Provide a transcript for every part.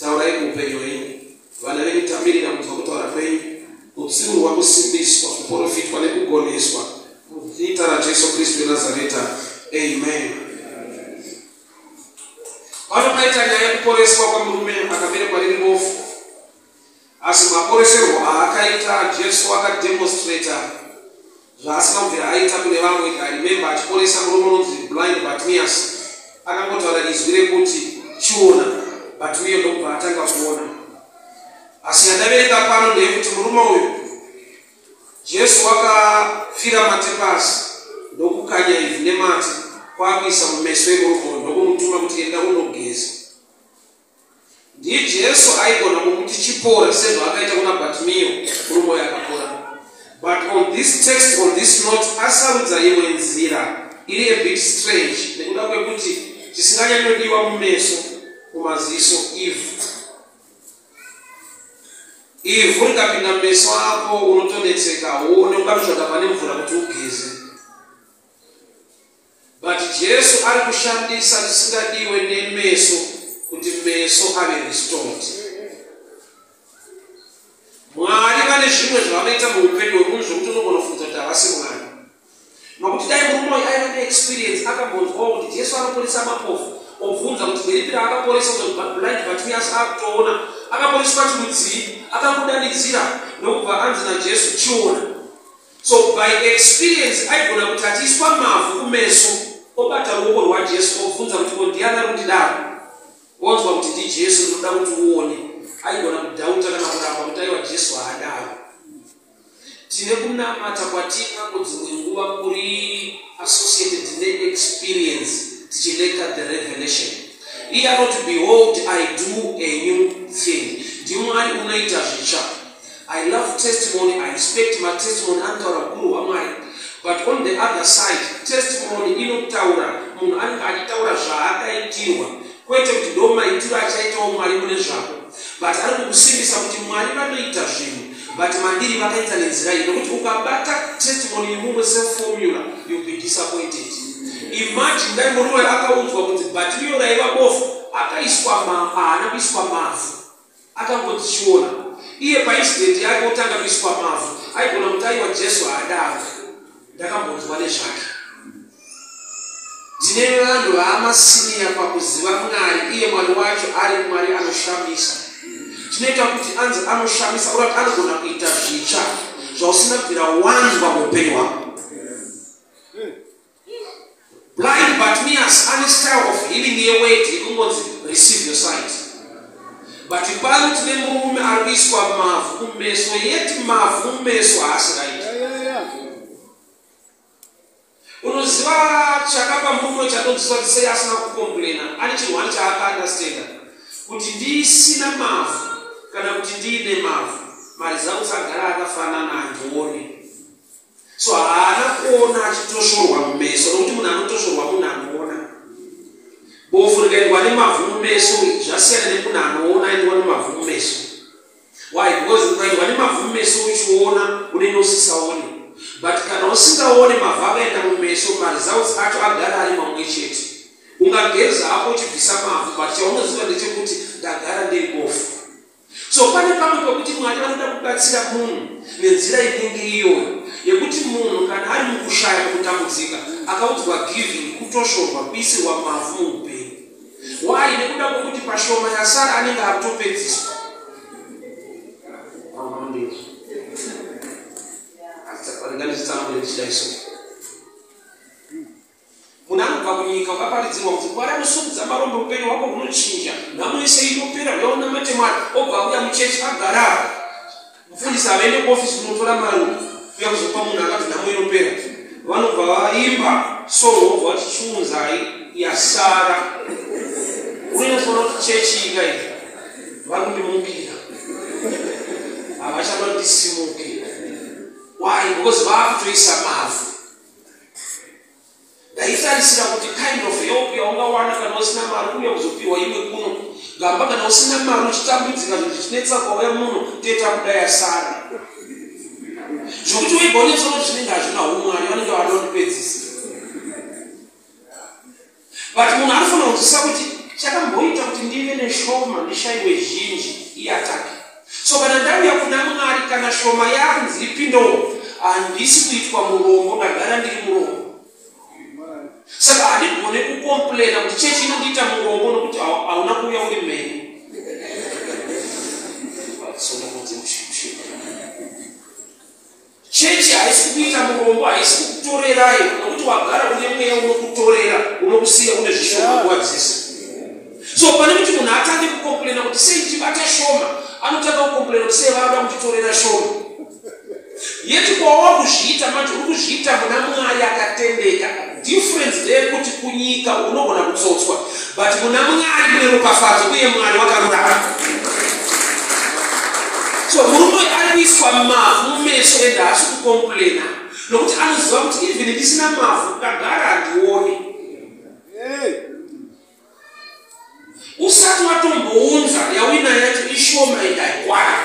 Taurai muupenyu hwenyu. Vana venyu tamirira kunzwa kutaura kwenyu, kutsiurwa, kusimbiswa, kuporofitwa nekugoneswa. Muzita raJesu Kristu weNazareta. Amen. Pano paita nyaya yekuporeswa kwemurume akaberekwa riri bofu. Asi maporeserwo aakaita Jesu aka demonstrater zvaasina kubvira aita kune vamwe. I remember achiporesa murume unonzi blind Bartimaeus akangotaura izwi rekuti chiona but uye ndokubva atanga kuona. Asi yandaverenga pano ndeyekuti murume uyu Jesu wakafira matepasi ndokukanya ivhu nemate kwakuisa mumeso emurume uyu ndokumutuma kuti enda unogeza. Ndiye Jesu aigona kumuti chipore sezvaakaita kuna Batimiyo murume uya akapora. But on this text, on this note, asarudza imwe nzira iri a bit strange nekuda kwekuti chisinganyanyodiwa mumeso mumaziso ivhu. Ivhu rikapinda mumeso ako unotonetseka, uone ukanotsvaga pane mvura kuti ugeze. But Jesu ari kushandisa chisingadiwe nemeso kuti meso ave restored. Mwari vane zvimwe zvavanoita muupenyu hwemunhu zvekuti unogona kufunza kuti havasi Mwari. Nokuti dai murume uyu aiva neexperience akambonzwawo kuti Jesu anoporesa mapofu obvunza kuti nderipi raakaporesa blind Bartimaeus akutoona akaporeswa chirudzii akamudanidzira ndokubva anzi naJesu chiona. So by experience aigona kuti achiiswa mavhu kumeso obata ruoko rwaJesu obvunza kuti ko ndiani ari kundidaro? Wonzwa kuti ndiJesu ndinoda kuti uone. Aigona kudhauta kana kuramba kuti aiwa Jesu haadaro. Tine kunamata kwatinako dzimwe nguva kuri associated neexperience tichileta the revelation. Iye anoti behold I do a new thing. NdiMwari unoita zvitsva. I love testimony, I respect my testimony anotaura hukuru hwaMwari. But on the other side, testimony inotaura munhu anenge achitaura zvaakaitirwa kwete kuti ndo maitiro achaitawo Mwari mune zvako. But ari kukusimbisa kuti Mwari vanoita zvinhu but mandiri vakaita nenzira iyi nokuti ukabata testimony yemumwe seformula you'll be disappointed. Imagine dai murume akaunzwa kuti bhatiriyo raiva bofu akaiswa ma, haana kuiswa mavhu Akangodzichiona iye paincident yake otanga kuiswa mavhu aigona kuti aiwa Jesu haada afe. Ndakambonzwa nezvake. Tine vanhu vaama senior pakuziva Mwari iye Mwari wacho ari Mwari anoshamisa. Tinoita kuti anzi anoshamisa or kuti anogona kuita zvitsva zvausina kubvira wanzwa muupenyu hwako. Blind Bartimaeus ane style of healing yeweti yekungonzi receive your sight. But pano tine murume ari kuiswa mavhu kumeso yeti mavhu mumeso haasi right. Unoziva chakapa murume chatonziswa tisei asina kukomplena ane chirwani chaakaandastenda kuti ndisina mavhu kana kuti ndiine mavhu maresults agara akafanana andione so haana kuona achitosvorwa mumeso nokuti munhu anotosvorwa munhu anoona bofu rikaendwa nemavhu mumeso zvasiyana nemunhu anoona aendwa nemavhu mumeso why because ukaendwa nemavhu mumeso uchiona unenge usisaone but kana usingaone mavhu akaenda mumeso maresults acho agara ari mamwe chete ungageza hako uchibvisa mavhu but chaunoziva ndechekuti ndagara ndiri bofu so pane pamwe pekuti mwari vanoda kubatsira munhu nenzira inenge iyoyo yekuti munhu kana ari mukushaya kutambudzika akaudzwa giving kutoshorwa kuisirwa mavhu muupenyu wai nekuda kwekuti pashoma yasara anenge akutopedziswa Munhu anobva kunyika ukaparidzirwa kuti Mwari anosumudza marombe upenyu hwako hunochinja. Nhamo yese inopera uya unamate Mwari obva auya muchechi agara apa. Mufundisi havaende kuofisi kunotora mari uya kuzopa munhu akati nhamo inopera. Vanobva vaimba solo obva vati chiunzai yasara. Unofanira kuti chechi ika iyi vari kundimukira havachada kuti ndisimuke. Why? Because vaakutoisa mavhu ndaitarisira kuti kind of help yaungawana kana usina mari uya kuzopiwa imwe kuno gamba kana usina mari uchitambudzika zvinhu zvichinetsa kwauya muno teta kudaya sara zvokuti uigonetsono zvinenge hazvina umwari vanenge vanondi but munhu anofanira kunzwisisa kuti chakamboita kuti ndive neshoma ndishaiwe zhinji iatake so kana ndauya kuna mwari kana shoma yanzi ipindewo handisi kuitwa murombo ndagara ndiri murombo saka handigone kukomplaina kuti chechi inondiita murombo nokuti hauna kuuya uri mheni Chechi haisi kuita murombo, haisi kukutorerai nokuti wagara une mweya unokutorera, unokusiya une zvishoma nguva dzese. So pane kuti munhu atange kukomplaina kuti sei ndichibata shoma, anotanga kukomplaina kuti sei vanoda kunditorera shoma. Yeti kwawa kuzviita manje, uri kuzviita muna Mwari akatendeka. Difference ndeyekuti kunyika unogona kutsotswa but muna Mwari mune ropafadzo uye Mwari wakarurama. So murume uyu ari kuiswa mavhu mumeso ende haasi kukomplaina nokuti anoziva kuti even ndisina mavhu ndagara handione. Usati watombounza yawina yacho ishoma ende haikwana.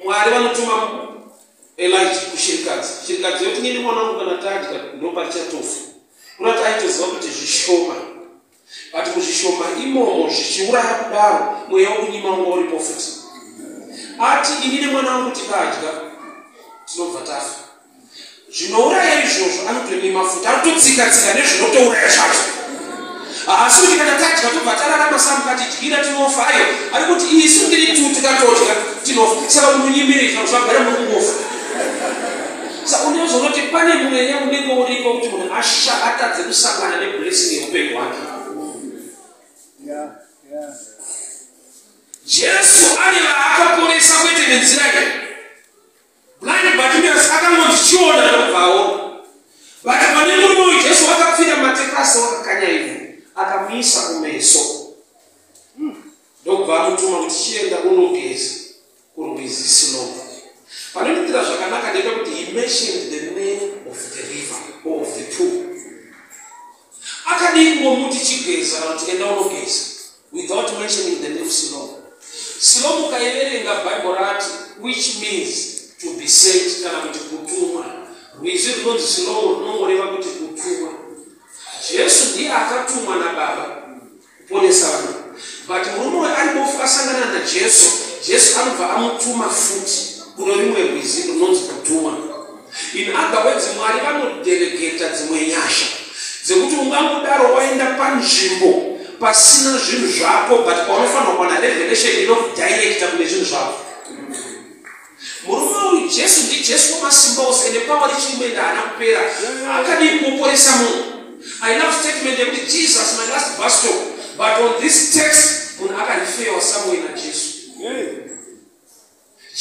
mwari vanotuma elija kushirikadzi shirikadzi yoti nini mwana wangu kana tadya ndoparichatofu kunati aitoziva kuti zvishoma but muzvishoma imomo zvichiuraya kudaro mweya wokunyima unga uripo futi ati inini mwana wangu tikadya tinobva tafa zvinouraya izvozvo anotoi mafuta anototsika tsika nezvinotouraya zvacho haasi kuti kana tadya tobva tararama samuka tidyira tinofa ayo ari kuti isu ndiri tu tikatodya tinofa saka unonyimiri kana zvagara mukungofa sa unezonoti pane mweya unenge uripo kuti munhu asha atadze kusangana neblessing yeupenyu hwake jesu ane vaakaporesa kwete nenzira iyi Blind Bartimaeus akangondichiona ndokubva aona. Vati pane murume uyu Jesu wakapfira matepasi wakakanya ivhu akamuisa kumeso hmm. ndokubva amutuma kuti chienda unogeza kurwizi Siloa. Panonditira zvakanaka ndepekuti he mentioned the name of the river or of the pool. Akadii ngomuti chigeza kana kuti enda unogeza. without mentioning the name Siloam. Siloam ukaiverenga Bible rati which means to be sent kana kuti kutumwa. Rwizi runonzi Siloam runongoreva kuti kutumwa. Jesu ndiye akatumwa naBaba kuponesa vanhu. But murume uyu ari bofu asangana naJesu, Jesu anobva amutuma futi kuno rimwe rwizi runonzi kutumwa. In other words, Mwari vanodelegeta dzimwe nyasha dzekuti ungangodaro waenda panzvimbo pasina zvinhu zvako but paunofanira kuwana revelation inokudirecta kune zvinhu zvako. Murume uyu Jesu ndiJesu wemasimba ose ende pawa richimwenda haana kupera akadii kuporesa munhu. I love statement yekuti Jesus my last bus stop but on this text munhu akarifewa somewhere naJesu. Yeah.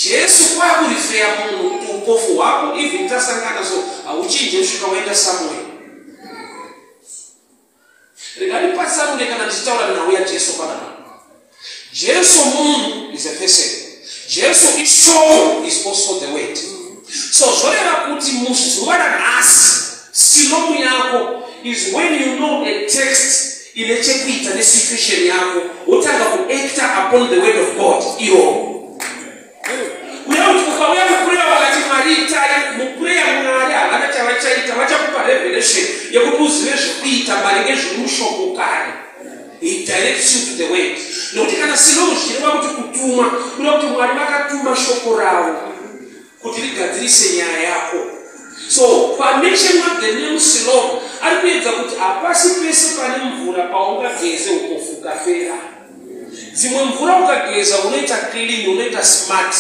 Jesu kwakurifeya munhu kuti upofu hwako even tasangana so hauchinje kusvika waenda somewhere. Rega ndipatsanure kana ndichitaura nhau yaJesu panapa. Jesu munhu is a person. Jesu ishoko is also the word. So zvoreva kuti muzuva ranhasi silomu yako is when you know a text ine chekuita nesituation yako wotanga kuacta upon the word of god iyo uyauti ukauya mukureya wakati mwari itai mukureya mwari havana chavachaita vachakupa revelation yekuti uzive zvekuita maringe zviri mushoko kare nekuti kana sinouzvireva kuti kutuma kuda kuti mwari vakatuma shoko ravo kuti rigadzirise nyaya yako so pamention of the name siloam ari kuedza kuti hapasi pese pane mvura paungageze ukofuka fera dzimwe mvura ukageza unoita clean unoita smart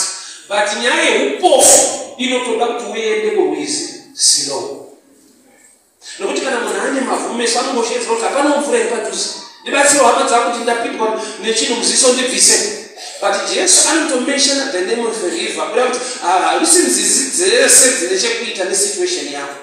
but nyaya yeupofu inotoda kuti uende kurwizi siloam nokuti kana munhu ane mavhu meso anongosheedzera kuti hapana mvura iri padhuze ndibatsiro hama dzaa kuti ndapindwa nechinhu muziso ndibvise but jesu anotomeshana the name of river kuda kuti harusi nzizi dzese dzine chekuita nesituation yavo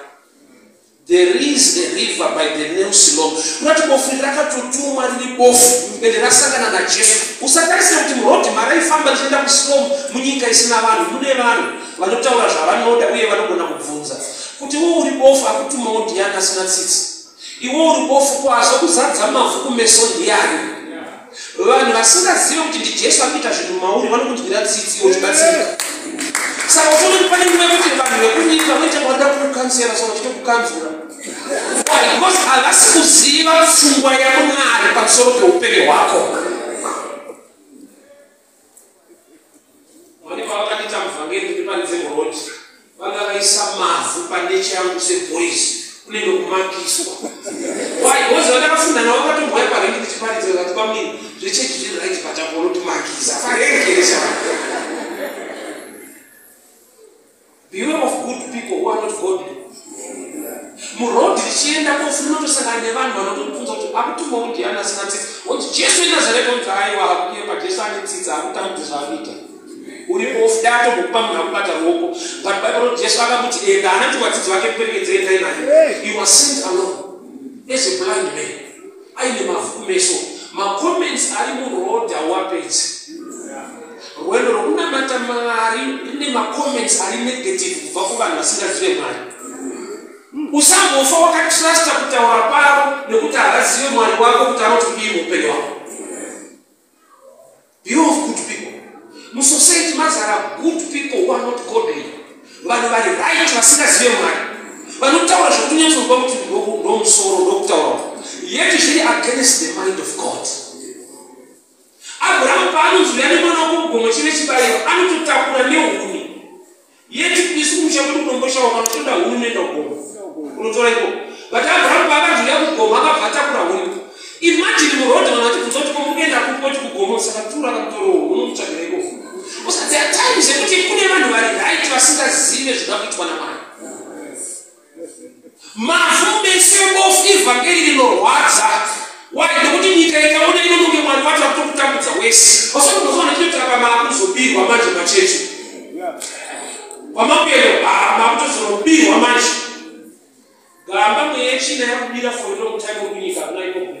there is a river by the name silom kunati bofu iri rakatotumwa riri bofu ende rasangana najesu usatarise kuti murodhi maraifamba richienda kusilom munyika isina vanhu mune vanhu vanotaura zvavanoda uye vanogona kubvunza Kuti iwe uri bofu akutumawo ndiani asina tsitsi? Iwe uri bofu ko azokuzadza mavhu kumeso ndiani? Vanhu vasingazive kuti ndiJesu akuita zvinhu mauri vanokunzwira tsitsi iwe uchibatsirika. Saka uchiona kuti pane nguva yekuti vanhu vekunyika voita vanoda kukukansera so vachito kukanzura. Why? Because havasi kuziva pfungwa yaMwari pamusoro peupenyu hwako. mane pavakati tamva ngeni ndi pane dzembo road vanga vaisa mavhu pandeche yangu seboys kunenge kumakiswa why bozi vandakafunda navo vakatomboya parengi ndichiparidza vati pamini zvechechi zviri right patakonotimakisa parengi Beware of good people who are not godly. Muroad richienda kofuna kutosangana nevanhu vanotokubvunza kuti akutumwa kuti ndiani asina tsitsi. Woti Jesu weNazareta unzi aiwa hakuye paJesu ane tsitsi akutambudzi zvaanoita. Uri off dato ngokupa munhu akubata ruoko. But Bible roti Jesu akamuti enda anati vadzidzi vake muperekedze endai naye. He was sent alone as a blind man. aine mavhu kumeso macomments ari muroad hauapedzi rwendo rwokunamata mwari rine macomments ari negative kubva kuvanhu vasingazive mwari usambofa wakatrusta kutaura kwavo nekuti havazive mwari wako kuti anoti kudii muupenyu wako you of good people musociety mazara good people who are not godly vanhu vari right vasingazive mwari vanotaura zvokunyatsoziva kuti ndomusoro ndokutaura yeti zviri against the mind of god abrahamu paanonzwira nemwana wako mugomo chive chibairo anototakura neuni Yet isu kumusha kwedu kunomboshawa kana uchienda huni unoenda kugoma. Unotora ikoko. But Abraham paakazouya kugoma akabva atakura huni. Imagine muroad vanhu vachibvunza kuti ko mukuenda kupi woti kugoma saka tura akamutorowo unomutsvagira ikoko. Usadziya time zvekuti kune vanhu vari right vasingazive zvinoda kuitwa naMwari. mavhu mese bofu ivhangeri rinorwadza why nekuti nyika ikaona inononge mwari wacho akutokutambudza wese vasakunozoona chinotirapa maakuzobirwa manje machechi kwamakuenda maakutozorobirwa manje gamba mweyechina yakubira for long time kunyika kuna ikokuno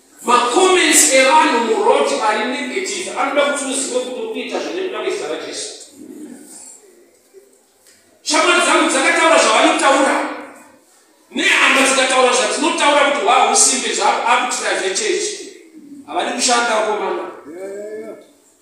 Macomments evanhu muroad ari negative anoda kuti uzive kuti uri kuita zvine kuda kwezita raJesu. Shamwari dzangu dzakataura zvavanotaura nehama dzikataura zvatinotaura kuti hwahusimbe zvaakutira zvechechi havadi kushanda komana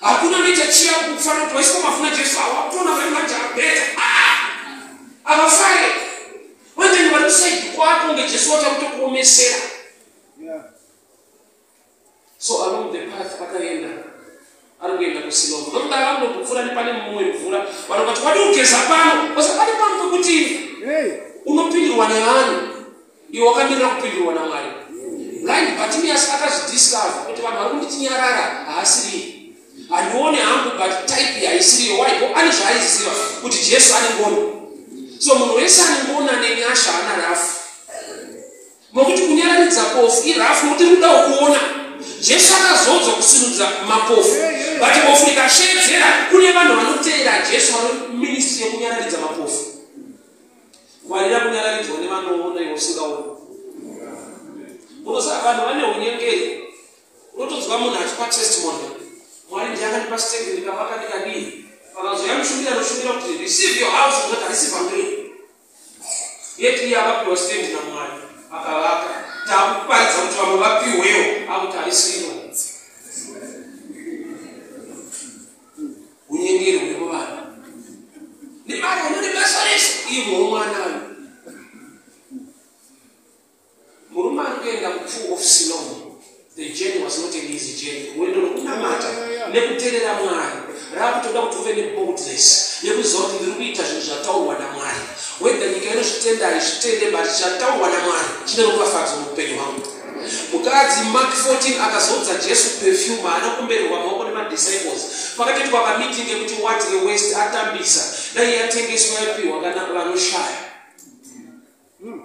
hakuna nechachiya kufana kuti waiswa mafuna jesu awa kutona vari manje abeta avafare vanjani vari kusaidi kwako nge jesu wachakutokuomesera so along the path akaenda ari kuenda kusilova nokuda vanotopfura nepane mumwe mvura vanhu vati wadi kugeza pano osapane pano pekuti unopindirwa nevanhu iwe wakamirira kupindurwa namwari right batimias akazvidiscover kuti vanhu vari kunditinyarara haasiriye handione hangu but type yaisiriyo waiko ane zvaaiziva kuti jesu ane ngoni so munhu wese ane ngoni ane nyasha ana rafu mokuti kunyararidza kofu irafu mokuti rikudawo kuona jesu akazodzwa kusinudza mapofu but bofu rikashedzera kune vanhu vanoteera jesu vanoministri yekunyararidza mapofu Ngwarira kunyararidzwa nevanoona iwe usingaoni. Munoziva vanhu vane unyengeri. Unotonzwa munhu achipa testimony. Mwari ndiye akandipa stake ndikavaka ndikadii. Vakazouya mushumiri anoshumira kuti receive your house kuti haisi vhangeri. Yet iye akapiwa stake naMwari akavaka. Takuparidza kuti vamwe vapiwewo akuti haisiro. unyengeri hwemuvana nemari unone basa rese ivo mwana uyu murume ari kuenda kutrue of sinon the journey was not an easy journey rwendo rwekunamata nekuterera mwari raakutoda kuti uve neboldness yekuziva kuti ndiri kuita zvinhu zvataurwa namwari weda nyika inozvitenda haizvitende but chataurwa namwari chine rupafadzo muupenyu hwangu Mukadzi, Mak. 14, akazoudza Jesu perfume haana kumbererwa maoko nemadisciples. Pakatoitwa kameeting kekuti what a waste, atambisa. Dai yatengeswa yapihwa kana vanoshaya. Hmm.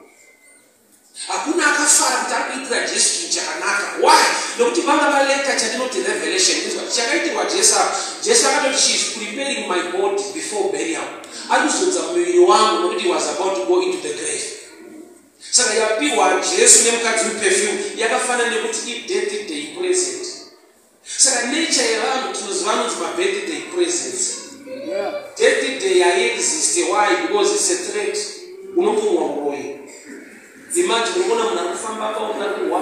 Hakuna akafara kuti ari kuitira Jesu chinhu chakanaka. Why? Nekuti vanga valeta chatinoti revelation. Chakaitirwa Jesu apa. Jesu akatoti she is preparing my body before burial. Ari kuzodza muviri wangu nekuti he was about to go into the grave. Saka yapiwa Jesu nemukadzi uyu perfume yakafanana nekuti ibirthday present. Saka nature yevanhu tinoziva anonzi mabirthday presents. Birthday haiexiste why because it's a threat. Unopumwa uroyi. Imagine unoona munhu arikufamba apa unoda kuwa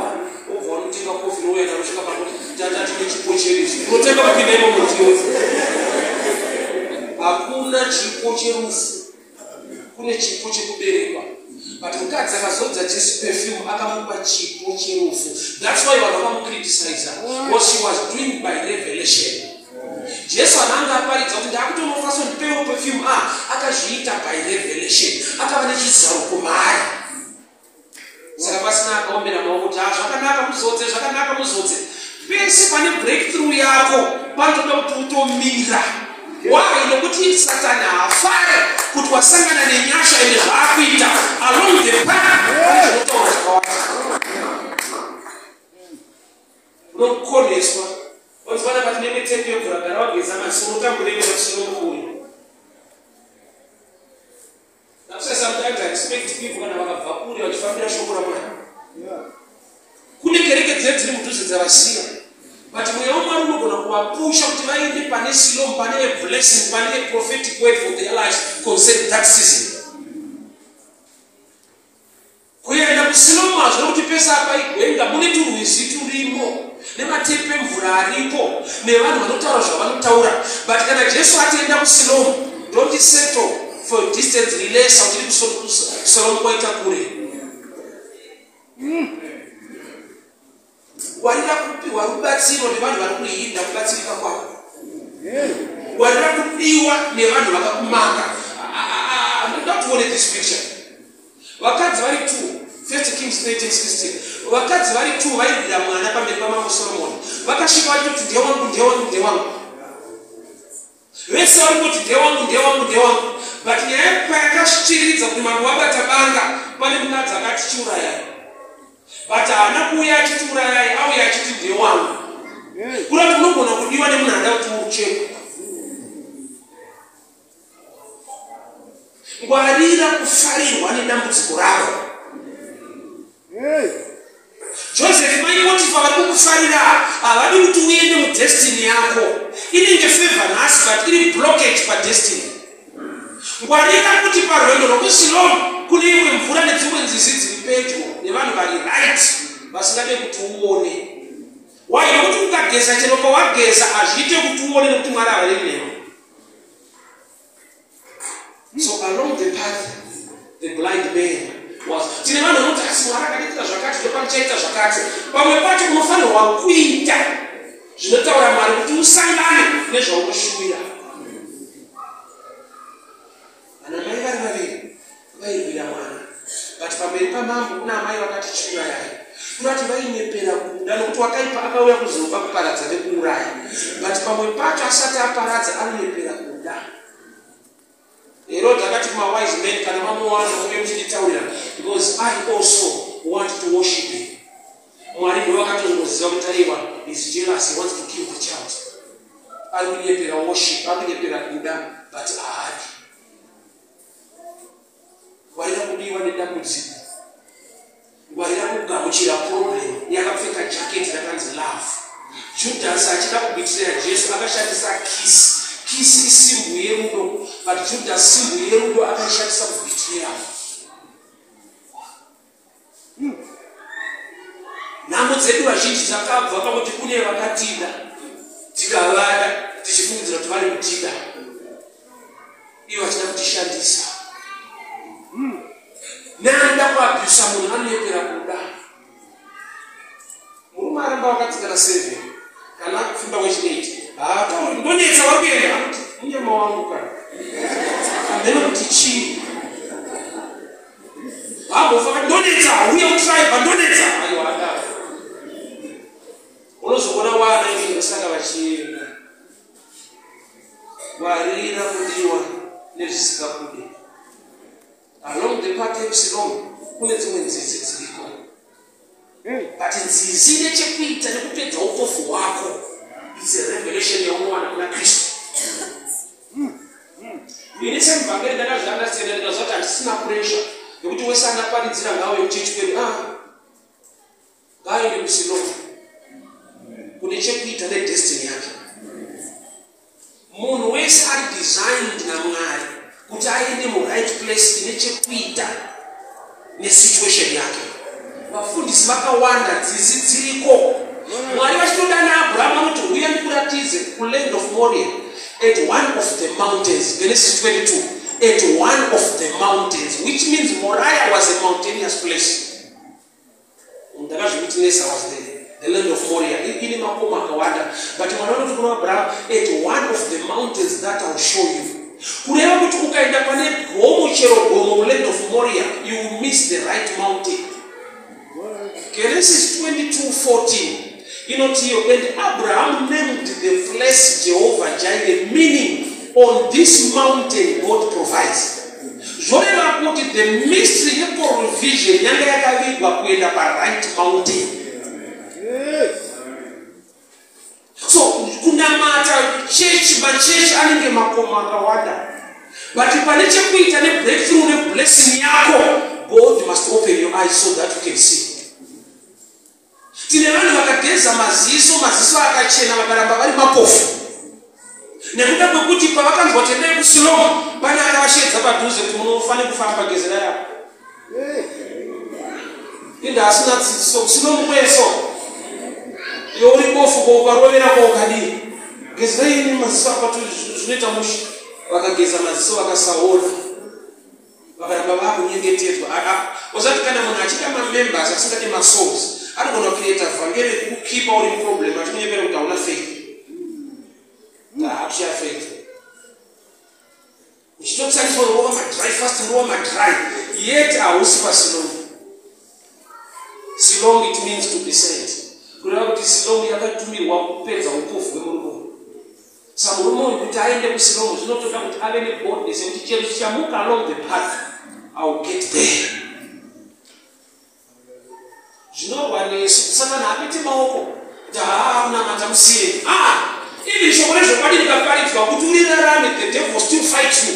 obva unotenga kofi nouya naro svika pakuti tata tine chipo chedu izvi. Unotenga mapinda imomo ndiyo. Hakuna chipo cherufu. kune chipo chekuberekwa but mukadzi akazodza jesu perfume akamupa chipo cherufu thats why vanhu vakamukriticiza what she was doing by revelation jesu ananga aparidza kuti ndakutonofaso ndipewo perfume a ah, akazviita by revelation akava nechizaruko maari saka pasina akaombera maoko kuti ha ah, zvakanaka muzodze zvakanaka muzodze pese pane breakthrough yako panotoda kuti utomira why nokuti satani haafare kuti wasangana nenyasha ende zvaakuita along the path zvinotaura zvakawanda unokoneswa wazivana pati nenge tepi yemvura gara wageza masi unotambureeausinomukuyo That's why sometimes I expect people kana vakabva kure vachifambira shoko ramwari kune kereke dzine dziri mudhuze dzavasiya but mweya wamwari unogona kuvapusha kuti vaende pane silom pane veblessing pane veprophetic word for their life concern that season Kuenda kuSiloam zvekuti pese apa igwenga mune turwizi turimo nematepi emvura ariko nevanhu vanotaura zvavanotaura but kana Jesu ati enda kuSiloam don't settle for a distance relesa uchiri kuSiloam kwaita kure. Mm. Warira kupiwa rubatsiro nevanhu vari kuhinda kubatsirika kwako. Warira kudiwa nevanhu vakakumanga. Ndoda kuti uone this picture. Vakadzi vari two, First Kings 13:16. Vakadzi vari two vairwira mwana pamberi pamambo Soromoni. Vakasvika vachiti ndiye wangu, ndiye wangu, ndiye wangu. Vese varikungoti ndewangu ndewangu ndewangu but nyaya yekupa yakasvitiridza kuti mambo vabata banga pane mukadzi akati chiurayai but haana kuuya achiti urayai auya achiti ndewangu kura kuti unogona kudiwa nemunhu ada kuti uruchekwe ngwarira kufarirwa nedambudziko rako Joseph, mai Potifa vari kukufarira havadi kuti uende mudestiny yako. Inenge favor nhasi but iri blockage padestiny. Ngwarira kuti parwendo rwekuSiloam kune imwe mvura nedzimwe nzizi dziri pedyo nevanhu vari right vasingade kuti uone. Why? Nokuti ukageza chero pawageza hazviite kuti uone nokuti Mwari havarevi newe. so along the path the blind man was tine vanhu vanoti asi mwari akadiita zvakati ndopanichaita zvakati pamwe pacho unofanirwa kuita zvinotaura mwari kuti usangane nezvaunoshuwira Vairwira mwana but pamberi pamambo kuna amai vakati chiurayai kurati vainyepera kuda nokuti wakaipa akauya kuzopa kuparadza nekuuraya but pamwe pacho asati aparadza anonyepera kuda herod akati kumawise man kana mamuwana uye muchinditaurira because i also want to worship him mwari ndo vakatongoziva kuti aiwa is jealous he wants to kill the child ari kunyepera worship ari kunyepera kuda but aadi ngwarira kubiwa nedambudziko ngwarira kugamuchira problem yakapfeka jaketi rakanzi love judhasi achida kubitirira jesu akashandisa kisi kisi isimbu yerudo but judhasi simbu yerudo akaishandisa kubitirira Nhambo dzedu vazhinji dzakabva pakuti kune vakatida tikavada tichifungidzira kuti vari kutida ivo vachida kutishandisa. Neanoda kuabhusa munhu anoyepera kuda. Murume aramba vakatsikana seven kana akufimba kwechineti haatauri ndonetsa wakuenda anoti munyama wangu kana amene kuti chii Bambo faka ndonetsa uye kutraiva ndonetsa ayo handa unozoona wana ii vasanga vachienda warira kudiwa nezvisikabude along the pathways long kune dzimwe nzizi dziriko But nzizi ine chekuita nekupedza upofu hwako. It's a revelation yaunowana kuna Kristu. Ini semuvhangeri ndakazvanda siyana ndikazvati handisina pressure nekuti wese angaparidzira ngawo yekuchechi kwedu ah, ngaende kusinova kune chekuita nedestiny yake. Munhu wese ari designed naMwari kuti aende muright place ine chekuita nesituation yake. Vafundisi vakawanda dzisi dziriko Mwari vachitoda naAbraham vanoti huya ndikuratize kuland of Moria at one of the mountains Genesis 22 at one of the mountains which means Moriah was a mountainous place. ndakazvikuti nesa was the, the land of moria ine makomo akawanda but mwana vanoti kuna abraham at one of the mountains that ill show you kureva kuti ukaenda pane gomo chero gomo muland of moria you will miss the right mountain genesis 22 14 Inoti iyo, And Abraham named the place Jehovah Jireh, meaning on this mountain God provides. Zvoreva kuti the mystery yeprovision yanga yakavigwa kuenda paright mountain. So kunamata chechi machechi anenge makomo akawanda but pane chekuita nebreakthrough neblessing yako God must open your eyes so that you can see. Tine vanhu vakageza maziso, maziso akachena vakaramba vari mapofu nekuda kwekuti pavakanzwa kuti endai kusiloma pane akavashedza padhuze kuti munofanira kufamba gezera yavo ende asina dzidziso kusiloma kweso iyo uri bofu ko ukarovera ko ukadii gezera ini maziso akwati zvinoita musha vakageza maziso vakasaona vakaramba vakunyengetedzwa usati kana munhu achida mamembers asingade masouls anogona kucreata vhangeri rekukukipa uri muproblem achikunyepera kuti hauna faith ndaakushaya ah, faith uchitotariswa rova madry fast rova madry yet hausi pasilong silong it means to be sent kureva kuti silong yakatumirwa kupedza upofu hwemurume Sa murume uyu kuti aende kuSilomo zvinotoda kuti ave neboldness yekuti chero chichamuka along the path I will get there. Zvinorwa nesu kusangana hapiti maoko kuti haa unamata musiye. Ah! Ili shoko rezvokwadi rikaparidzwa kuti urirarame the devil still fight you.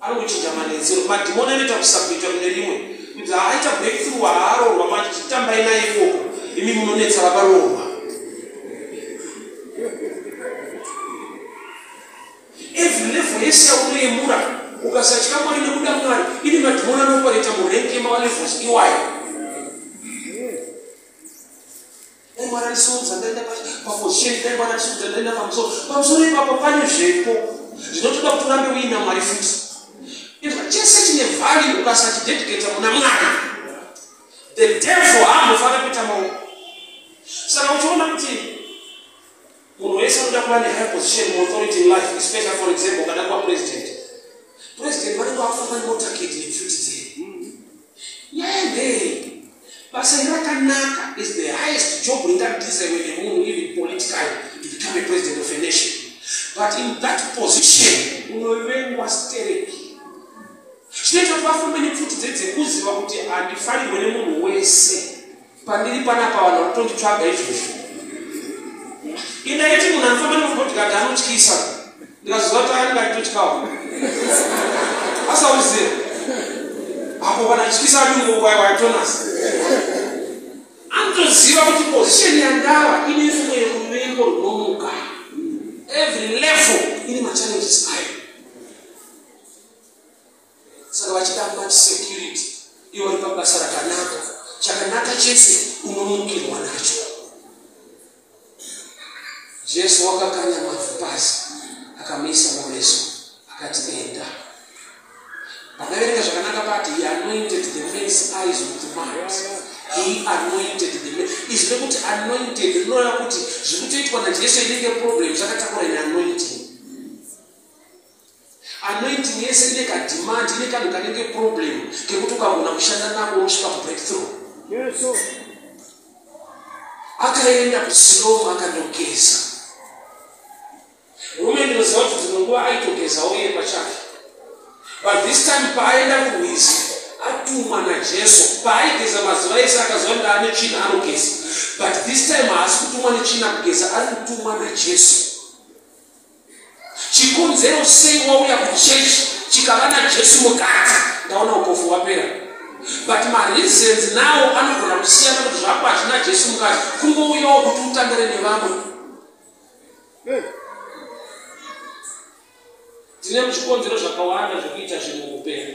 Ari kuchinja manetsero. Madhimoni anoita kusabhuita kune rimwe. Kuti haaita breakthrough haaroorwa manje chitambai naye ikoko. Imi munonetsa vakaroorwa. Every level yese yaunoyemura ukasatya mwari nekuda mwari ine madhimoni anopareta murengi yemawa levels iwayo. dai mwana ndisodza ndaenda pafosheni dai mwana ndisodza ndaenda pamusoro pamusoro ipapo pane zvepo zvinotoda kuti urambe uina mwari futi izva chese chine vhari ukasachidediketa muna mwana the devil haambofanira kuita maoko saka uchiona kuti Munhu wese anoda kuva ne high position mu authority in life especially for example kana kuva president. President vanenge vafamba ne motorcade nepfuti dzei. Nyaya ndei basa iri rakanaka is the highest job ringadizaiwe nemunhu even politically to become a president of a nation. But in that position unovengwa stereki zvinoita kuti vafambe nepfuti dzedze kuziva kuti handifanirwe nemunhu wese. Pandiri panapa vanhu vari kutonditsvaga izvozvo. Ini ndaiti munhu anofamba nemurume ndikati anotyisa. Ndikazoziva kuti anga nditotyawo. Asauziva. Apo vanatyisa ati muoko ayo waitonasa. Anotoziva kuti position yandava ine fumo yeruvengo runomuka. Every level ine machallenges ayo. saka vachida much security ivo vari pabasa rakanaka chakanaka chese unomukirwa nacho jesu wakakanya mavhu pasi akamuisa mumeso akati enda pakaverenga zvakanaka pati he anointed the man's eyes with mart he anointed the man izvi rekuti anointed rinoreva kuti zviri kutoitwa najesu inenge problem zvakatakura ine anointing Anointing yese ine ka demand ine kanhu kanenge problem kekuti ukagona kushanda nako unosvika breakthrough. Yes sir. Akaenda kusilomu akandogeza. Murume ndinoziva kuti dzimwe nguva aitogezawo iye pachake. But this time paaenda kurwizi atumwa naJesu paaigeza mazuva ese akaziva kuti ane tsvina anogeza. But this time haasi kutumwa netsvina kugeza ari kutumwa naJesu. Chikonzero sei wauya kuchurch chikava naJesu mukati ndaona upofu hwapera. But mareasons nawo anogona kusiyana kuti zvako hazvina Jesu mukati kungouyawo kuti utambire nevamwe. Tine zvikonzero zvakawanda zvekuita zvinhu muupenyu.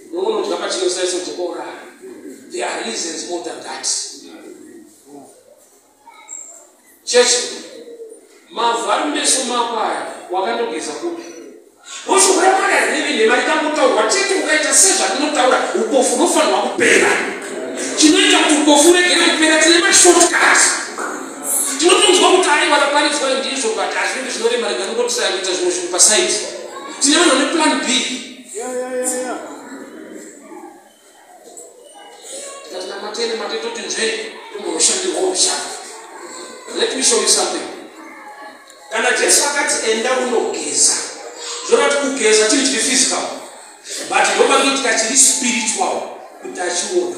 nounodya pachinosaiso dzokourara there are reasons more than that chechi mavhu ari meso mako aya wakandogeza kupi woshuvura mwana rineve nhema rikangotaurwa chete ukaita sezvatinotaura upofu unofanirwa kupera chinoita kuti upofu uregere kupera tine mashortcut tinotonzwa kuti aiwa raparidzwa ndizvo but hazvinenge zvinorema rega nongotisaya kuita zvimwe zvinhu pasaidi tine vanhu vane plan b Yeah, yeah, yeah, yeah. Let me show you something. Kana Jesu akati enda unogeza. Zvona tikugeza tiri tiri physical. But ndoba kuti tiri spiritual kuti achiona.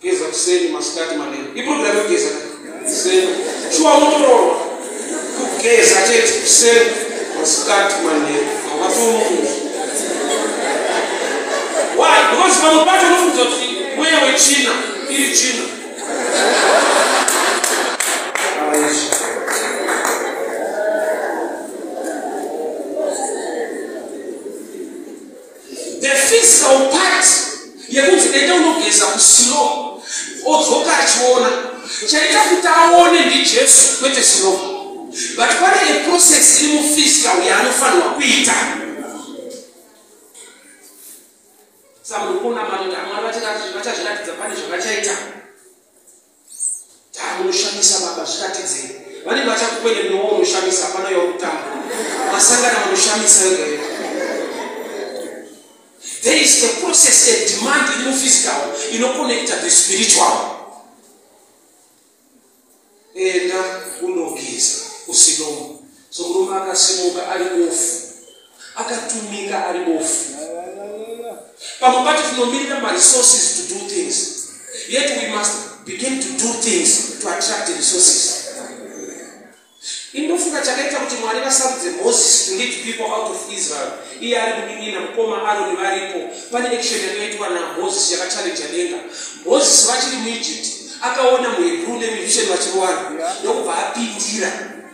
Kugeza kuseni, masikati, manheru. Iprogram yokugeza kuseni. Shuwa unotoroorwa. Kugeza chete kuseni, masikati, manheru. Hawatomuzi. Why? Because pamwe pacho unofunga kuti mweya wechina iri china. the physical part yekunzi ende unogeza kuslow odzoka achiona chaita kuti aone ndijesu kwete slow but pane a process iri muphysical yaanofanirwa kuita samunhu kuona matoda mwari vachazviratidza pane zvavachaita Dai unoshamisa baba zviratidzei. Vanenge vachakukwene mno unoshamisa hapana yokutamba. Masangana vanoshamisa iwe. There is a process a demand in the physical inoconnecta the spiritual. Enda unogeza usinomwe. So murume akasimuka ari bofu, akatumika ari bofu. Pamwe pacho tinomirira maresources to do things, yet we must begin to do things to attract resources. Indofunga chakaita kuti Mwari vasarudze Moses to lead people out of Israel. Iye ari kudinina mukoma Aroni varipo. Pane action yakaitwa naMoses yakachallenge denga. Moses vachiri muEgypt akaona muHebrew nemuEgyptian vachirowana ndokubva apindira.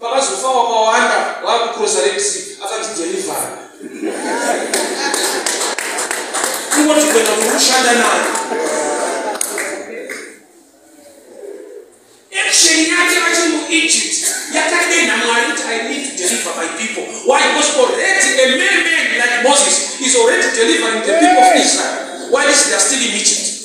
Pakazofa wakawanda wakucrosa Red Sea akanzi deliver. Kungoti kuenda kunoshanda nayo. Action yake vachiri muEgypt yakadenha Mwari kuti I need to deliver my people. Why? Because already a mere man like Moses is already delivering the people of Israel while they are still in Egypt.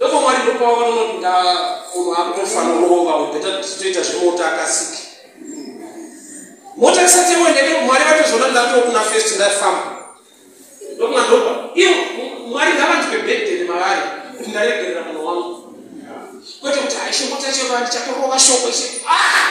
Ndipo Mwari ndipo pavanonoti ndaa munhu akutofa norova webeta toita zvemota akasiki. Mota isati yawendeke Mwari vatozoona ndatokuna first ndafamba. Ndokuna ndopa. Ivo Mwari ngavandipe birthday nemavare kuti ndaregerera munhu wangu. Kwete kuti haishe mota chero ndichatorova shoko ishe. Ah!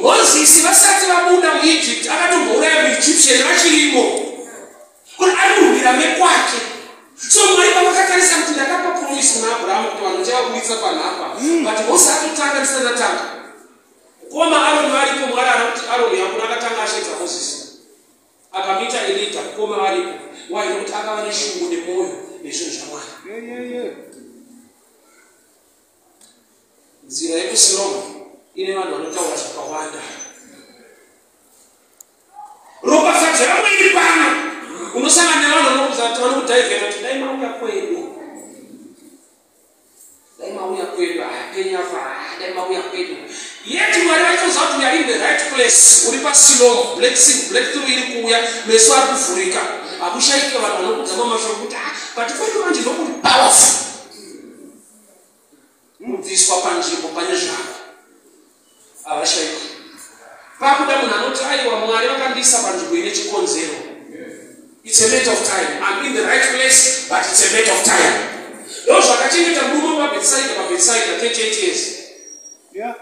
mozisi vasati vabuda muegypt akatombouraya muegyptian vachirimo kuti ari murwira mekwake so mwari pavakatarisa kuti ndakapa promise kuna abrahamu kuti vanhu ndichavaburitsa panhapa hmm. but mose atotanga ndisanatanga koma aroni varipo mwari ana kuti aroni yakuna akatanga asheedza mozisi akamuita elida koma varipo waida kuti akava neshungu nemwoyo nezvinhu zvamwari nzira yekusiromu ine vanhu vanotaura zvakawanda ropafadzo yavo iri pano unosangana nevanhu vanokuza kuti vanokudhaivheta kuti dai mauya kwedu dai mauya kwedu hapenyu apa dai mauya kwedu yet mwari vaitoziva kuti uyari in the right place uri pasilomo blessing breakthrough iri kuuya meso ari kuvhurika hakushaike vanhu vanokudzama mashoko kuti ah, pati kwedu manje ndokuri powerful Unobviswa panzvimbo pane zvako. Havashaikwe. Pakuda munhu anoti aiwa Mwari vakandiisa panzvimbo ine chikonzero. It's a matter of time. I'm in the right place but it's a matter of time. Ndozvakachengeta murume wepabetsaida pabetsaida 38 years. Yeah.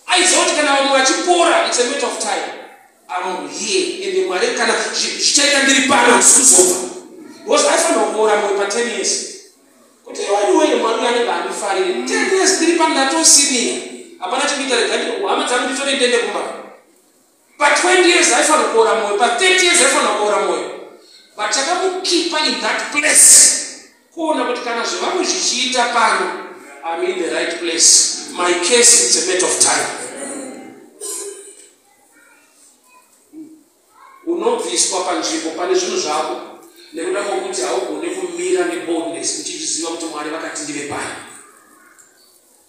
Aiziva kuti kana vamwe vachipora it's a matter of time. I'm here and Mwari kana zvichaita ndiri pano ndisikuzofa. Because aifanira kuora mwe pa 10 years. Kuti iwe ndiwe mwari uya anenge andifarire. Mm. Ten years ndiri pano ndatosinia. Hapana chikuita rega hama dzangu nditore ndende kumba. Pa 20 years haifanira kuora moyo, pa 30 years haifanira kuora moyo. But chakamukipa in that place. Kuona kuti kana zvevamwe zvichiita pano, I'm in the right place. My case is a matter of time. Unobviswa panzvimbo pane zvinhu zvako nekuda kwokuti haugone kumira neboldness uchiziva kuti Mwari vakati ndive pai.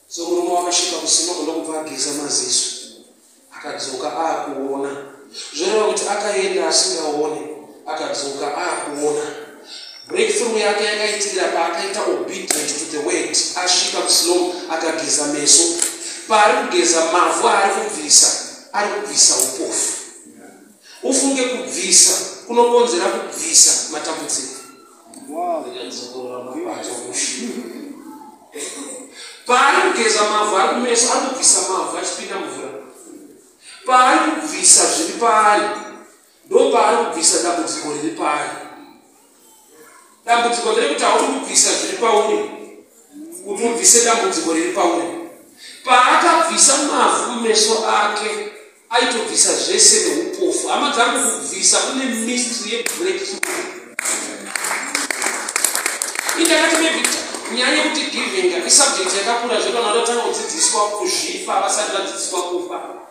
So murume wakasvika kusima kuda kubva ageza maziso akadzoka akuona zvoreva kuti akaenda asingaone akadzoka akuona breakthrough yake yakaitirira paakaita obedient to the word asvika kusilomu akageza meso paari kugeza mavhu aari kubvisa ari kubvisa upofu Ufunge kubvisa kunokonzera kubvisa matambudziko. Paari kugeza mavhu ari kumeso ari kubvisa mavhu achipinda mvura. Paari kubvisa zviri paari ndopaari kubvisa dambudziko riri paari. dambudziko ndere kuti hauri kubvisa zviri pauri kuti ubvise dambudziko riri pauri paakabvisa mavhu mumeso ake aitobvisa zvese neupofu hama dzangu kubvisa kune mistry yebreak indakati maybe nyaya yekuti giving isubject yakakura zvekana vatotanga kudzidziswa kuzvifa vasati vadzidziswa kufa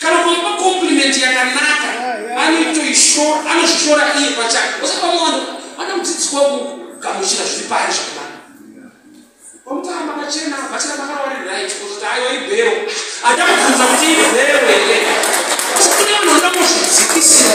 kana kuipa compliment yakanaka anoitoishora anozvishora iye pachake osapamwana ana mudzidziswa kugamuchira zviri pari zvakanaka omutara makachena bachira makawari right kuzoti ayo ibhero ada kubvunza kuti ibhero here asi kune vanhu vanoda kuzvidzikisira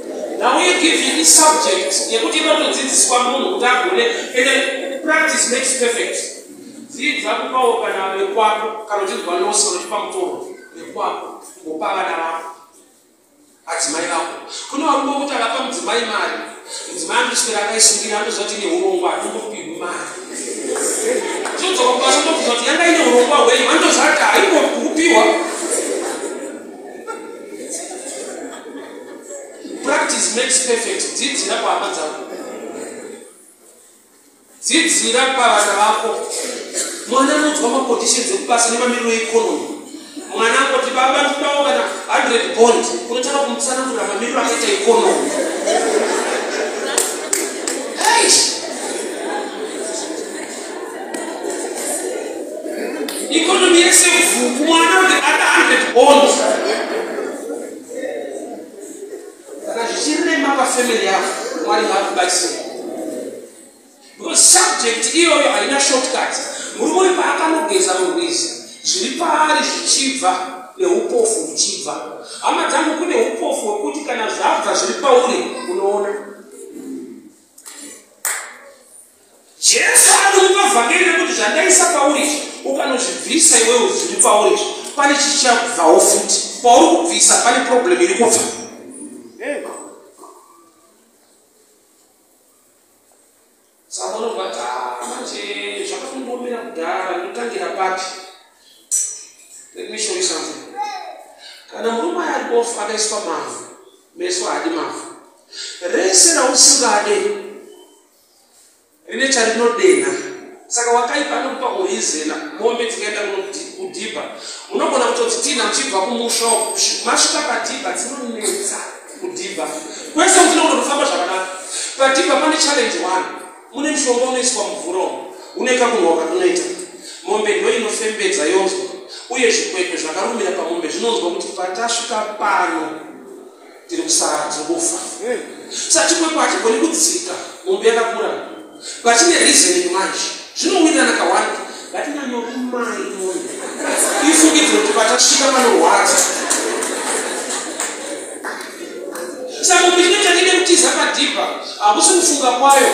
Now we give you this subject yekuti inotodzidziswa munhu kuti agone ende practice makes perfect. Dzidza kupawo kana vekwako kana uchinzwa nosi kana uchipa mutoro vekwako kupa vana vako adzimai vako. Kune varume vokuti avapa mudzimai mari mudzimai anoswera akaisungira anoziva kuti ine urongwa hatingopihwi mari. Zvinodzoka kubasa ndobvunza kuti yanga ine urongwa hwenyu vanotoziva kuti haingokupiwa Practice makes perfect. Dzidzira pahama dzako. Dzidzira pavana vako. Mwana anonzwa maconditions ekubasa nemamiriro economy. Mwana angoti baba ndidawo kana 100 bond unotanga kumutsanangurira mamiriro akaita economy. Eish. Economy yese vhuku mwana kuti ada 100 bond. kana zvichirema pafamily yavo mwari ngaakubatsire because subject iyoyo haina shortcut murume uyu paakanogeza murwizi zviri paari zvichibva neupofu huchibva hama dzangu kune upofu hwekuti kana zvabva zviri pauri unoona Jesu anokupa vhangeri rekuti zvandaisa pauri izvi ukanozvibvisa iwewe zviri pauri izvi pane chichabvawo futi pauri kubvisa pane problem iri kubva sakonokuati ah, manje zvakakundomira kudhara ndotangira papi let me show you something kana murume aya aribofu akaiswa mavhu meso haadi mavhu rese rausingade rine charinodenha saka wakaipa anokupa horizena mombe dzikaenda kudhibha unogona kutodzitinha muchibva kumusha masvika padhibha dzinonetsa kudhibha kwese utinogona kufamba zvakanaka padhibha pane challenge one mune mushonga unoiswa mumvura umo une kakunhoka kunoita mombe ndo inofembedza yonzwa uye zvikwekwe zvakarumira pamombe zvinonzwa kuti patasvika pano tiri kusara tingofa sa chikwekwa hachigoni kudzika mombe yakakura vachine reasoning manje zvinowirirana kawanda ngatinyanyorumai mombe ifungidziro kuti vatasvika panorwadza sa mombe chine chanine kutiza padhipa hakusi kufunga kwayo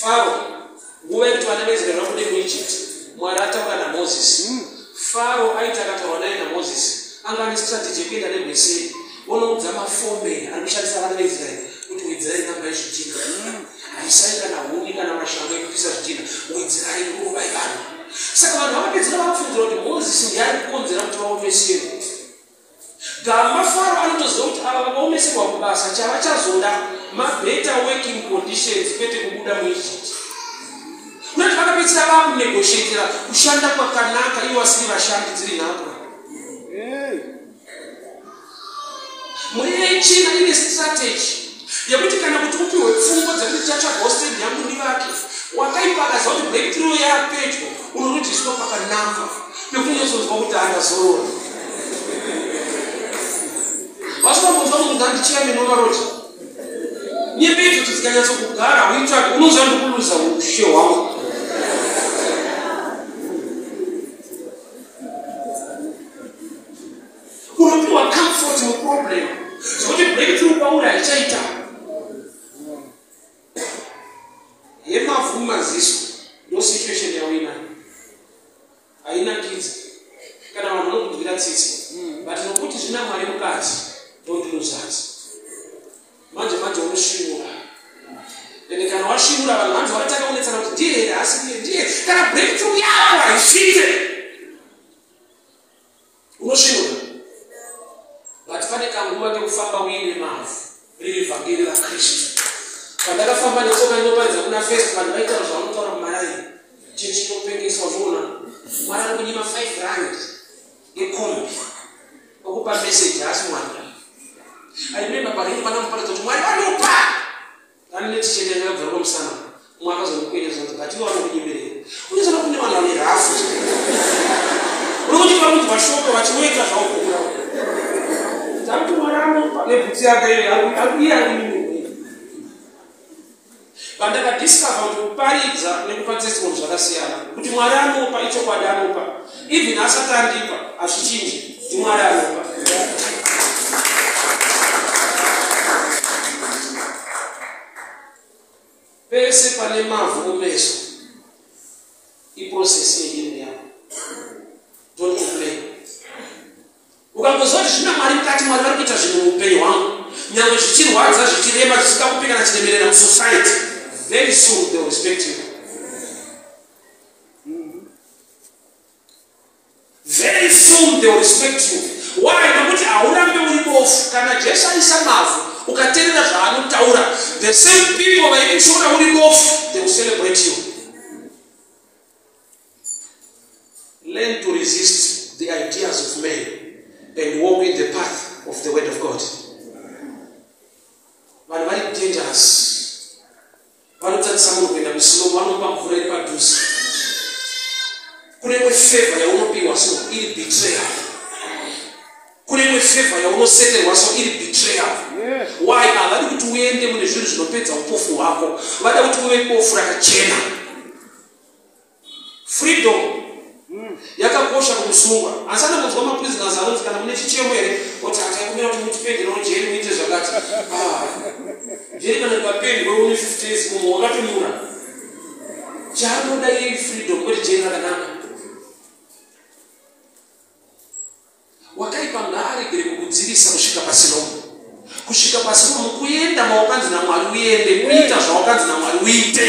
Faro, nguva yekuti vana veIsraeri vabude muEgypt, Mwari ataura naMozisi. Hmm. Faro aiti akataura naye naMozisi anga ane strategy yekuenda negweseri onoudza mafombe ari kushandisa vana veIsraeri kuti wedzera inamba yezvidhina hmm. haisai kana huni kana mashanga ekupisa zvidhina wedzera inguva yevanhu saka vanhu vakapedzera vapfunzira kuti mozisi ndiari kukonzera kuti vaomesere Gamba Faro anotoziva kuti ava vakaomeserwa kubasa chavachazoda mabetter working conditions kwete kubuda muEgypt. Kunoti vakapedzisira vava kunegotiatira kushanda kwakanaka ivo vasiri vashandi dziri nhapwa. Mhuri yechina ine strategy yekuti kana kuti upihwe pfungwa dzekuti chatsvagawo stand yangu ndivake wakaipa akaziva kuti breakthrough yapedyo unonotiswa pakanaka pekunyesonzwa kuti andazorora vasinambonzwa kuti ndandichira minovaroti nyembe idzo kuti dzikanyatso kugara uitsvake unoziva ndikuluza ushe hwangu unopiwa comfort muproblem zvekuti breakthrough kwauri haichaita yemavhu maziso ndo situation yawina haina kidzi kana vanhu vanokunzwira tsitsi but nokuti zvina mwari mukati don't lose heart manje manje unoshinura ende kana washinura vanhu vanzi vakatanga kunetsana kuti ndiye here asi ndiye ndiye kana breakthrough yako haisvite unosvinura but pane kanguva kekufamba uine mavhu riri vhangeri rakristu pandakafamba netsoka inoparidza kuna fest vanhu vaitaura zvavanotaura mumaraini chechinopengeswa zvoona mwari ari kunyima 5 rand yekombi okupa meseji haasi mwari aimemba paringi pana muparidza kuti mwari vanopa Nani netichende yakabvura pamusana umwe akazondikwenya zvanzi but iwe vanokudimberera unozoda kune vanhu vane rafu uri kuti vanonzwa shoko vachinoita zvaukura takutomaramo nebhutsi yake iye ari mimwe vandakadiscover kuti kuparidza nekupa testimony zvakasiyana kuti mwari anopa ichokwadi anopa Even asati andipa hazvichinje ndimwari anopa. Pese pane mavhu mumeso iprocess yehealing yako. Don't complain. Ukangoziva kuti zvina mwari mukati mwari vari kuita zvinhu muupenyu hwangu nyangwe zvichirwadza zvichirema zvisingakupi kana chiremerera musociety very soon they will respect you. very soon they will respect you why nokuti haurambe uri bofu kana jesu aisa mavhu ukaterera zvaanotaura the same people vaikushora uri bofu they will celebrate you learn to resist the ideas of men and walk in the path of the word of god vanhu vari dangerous vanotarisa munhu kuenda kusilomo vanopa mvura iri padhuze kune imwe fevha yaunopiwa so iri betrayal kune imwe fevha yaunoseterwa so iri betrayal why havadi kuti uende mune zvinhu zvinopedza upofu hwako vada kuti uve bofu rakachena freedom yakakosha kumusungwa asi anongonzwa maprisoners anonzi kana mune chichemo here oti ataikumbira kuti mutipenderawo jeri muite zvakati ah, jeri kana ndikapendwe une 50 years mumwe wakatonyura chaanoda iyei freedom kwete jeri rakanaka wakaipa ngaaregere kukudzivisa kusvika pasina umwe kusvika pasina umwe kuenda mawakanzi namwari uende kuita zvawakanzi namwari uite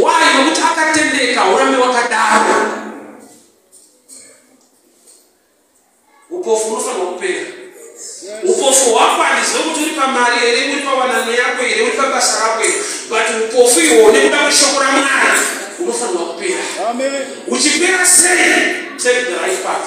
why nokuti akatendeka urambe wakadaro upofu unofanirwa kupera upofu hwako handizive kuti uri pamari here uri pawanano yako here uri pabasa rako here but upofu ihwo nekuda kweshoko ramwari unofanirwa kupera uchipera sei take the right path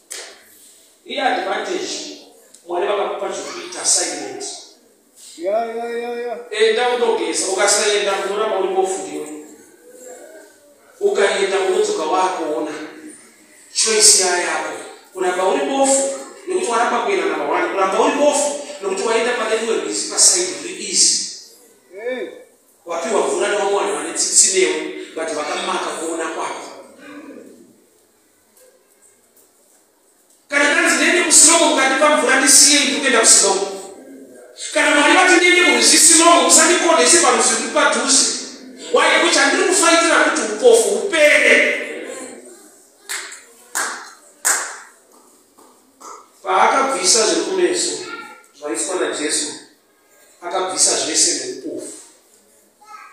Iye advantage mwari vakakupa zvekuita silent enda unogeza ukasaenda unoramba uri kofuriwe ukaenda unodzoka wakuona choice ya yako kuramba uri bofu nekuti waramba kuenda namba one kuramba uri bofu nekuti waenda pane rimwe rwizi pasaidi riri easy wapiwa mvura nevamwe vanhu vane tsitsi newe but vakamaka kuona kwako kana tanzi ndiende kusilomo mukandipa mvura ndisiye imi kuenda kusilomo kana mwari vati ndiende kurwizi silomo musandikonese parwizi ruri padhuze waye kuchi handiri kufaitira kuti upofu upere paakabvisa zvekumeso zvaiswa najesu akabvisa zvese neupofu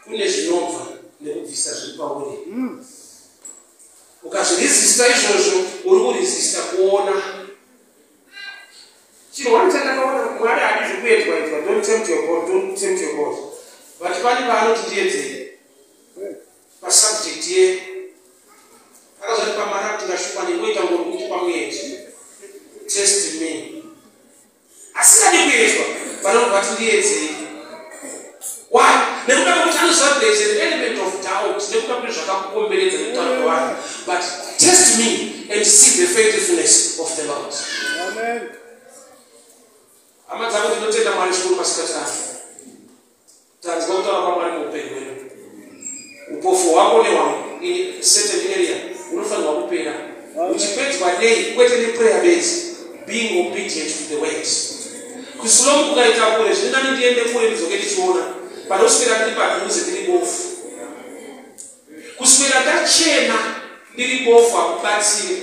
kune zvinobva nekubvisa zviri pauri hmm. ukazvirizista izvozvo uri kurizista kuona chirwani chandakaona mwari adi zvekuedzwa edzwa don't tempt your god don't tempt your god but pani paanoti ndiedzere pasubject ye akazoti pamara kuti ndashuma nengoita ngori kuti pamuedzi test me asingadi kuedzwa vanobva vati ndiedzei why nekuda kwekuti anoziva kuti there is an element of doubt nekuda kuti zvakakukomberedza nekutaura kwevanhu but test me and see the faithfulness of the lord hama dzangu tinotenda mwari zvikuru masikati ano Tanzwa kutaura kwaMwari muupenyu hwedu. Upofu hwako nehwangu in certain area unofanirwa kupera. Uchipedzwa nei? Kwete neprayer bedzi. Being obedient to the word. Kusilomu kukaita kure, zvine nani ndiende kure ndidzoke ndichiona. Pane kuswera ndiri padhuze ndiri bofu. Kuswera ndachena ndiri bofu hakubatsire.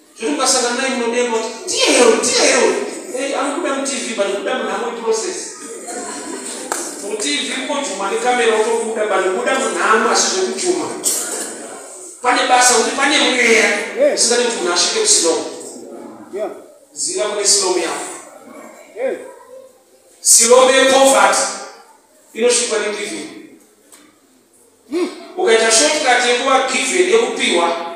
zvekuti ukasangana naye munodemba kuti ndiye hero ndiye hero eh, anokuda mutv but kuda munhamo iprocess mutv kojuma nekamera utokuda but kuda munhamo asi zvekujuma pane basa kuti pane mweya usingati kuti munhu asvike kusilom ziva kune silom yako silom yepovert inosvikwa negiving hmm. ukaita shotkat yekuva given yekupiwa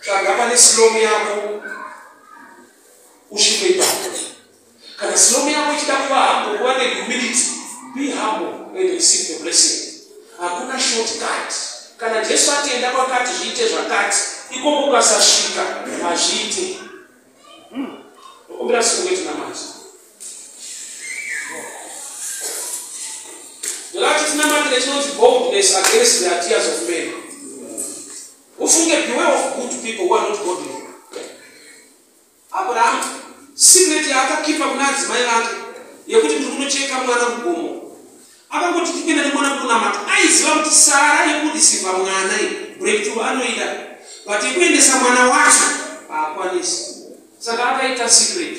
tsvaga pane silomu yako usvike ipapo kana silomu yako ichida kuva hambo kuva nehumility be humble and receive the blessing hakuna short cut kana jesu atienda kwakati zviite zvakati ikoko ukasasvika hazviite hmm. okumbira siku wetinamati Ndolati tinamatire chinonzi boldness against the ideas of men. Ufunge beware of good people who are not godly. Abraham secret yaakakipa kuna adzimai vake yekuti ndiri kunocheka mwana mugomo akangoti tipinda nemwana kunamata aiziva kuti sara yekudisiva mwana breakthrough anoida but yekuendesa mwana wacho haakwanisi saka akaita secret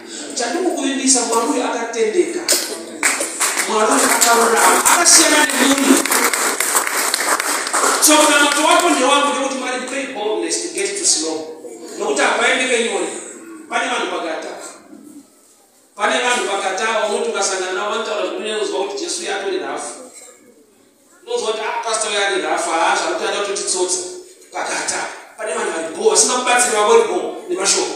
Chandikukuvimbisa mwari uyu akatendeka. Mwari uyu akarurama. Akasiyana nemunhu. So munamato wako ndewangu nekuti mwari pray boldness to get to slow. Nokuti hapaende kenyori. Pane vanhu pakata. Pane vanhu pakata vanoti ukasangana navo vanotaura zvekuti unozwa kuti Jesu uya atori rafu. Unozwa kuti ah pastor uya ari rafu haa zvakuti ada kuti titsotse pakata. Pane vanhu vari bho vasingakubatsiri vavo vari bho nemashoko.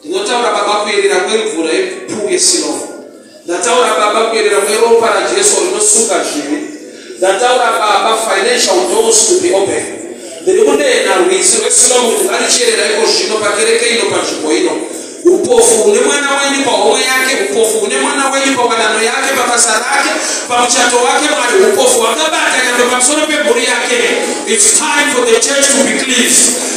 Ndinotaura Baba kuyerera kwemvura yepuu yesilovo. Ndataura Baba kuyerera kweropa raJesu rinosuka zvivi. Ndataura Baba financial doors to be open. Ndiri kunena rwizi rwesilovo kuti ngarichiyerera iko zvino pakereke ino panzvimbo ino. Upofu hune mwana wenyu pahomwe yake, upofu hune mwana wenyu pawanano yake, pabasa rake, pamuchato wake, mwari upofu hwakabata nyangwe pamusoro pemhuri yake. It's time for the church to be cleansed.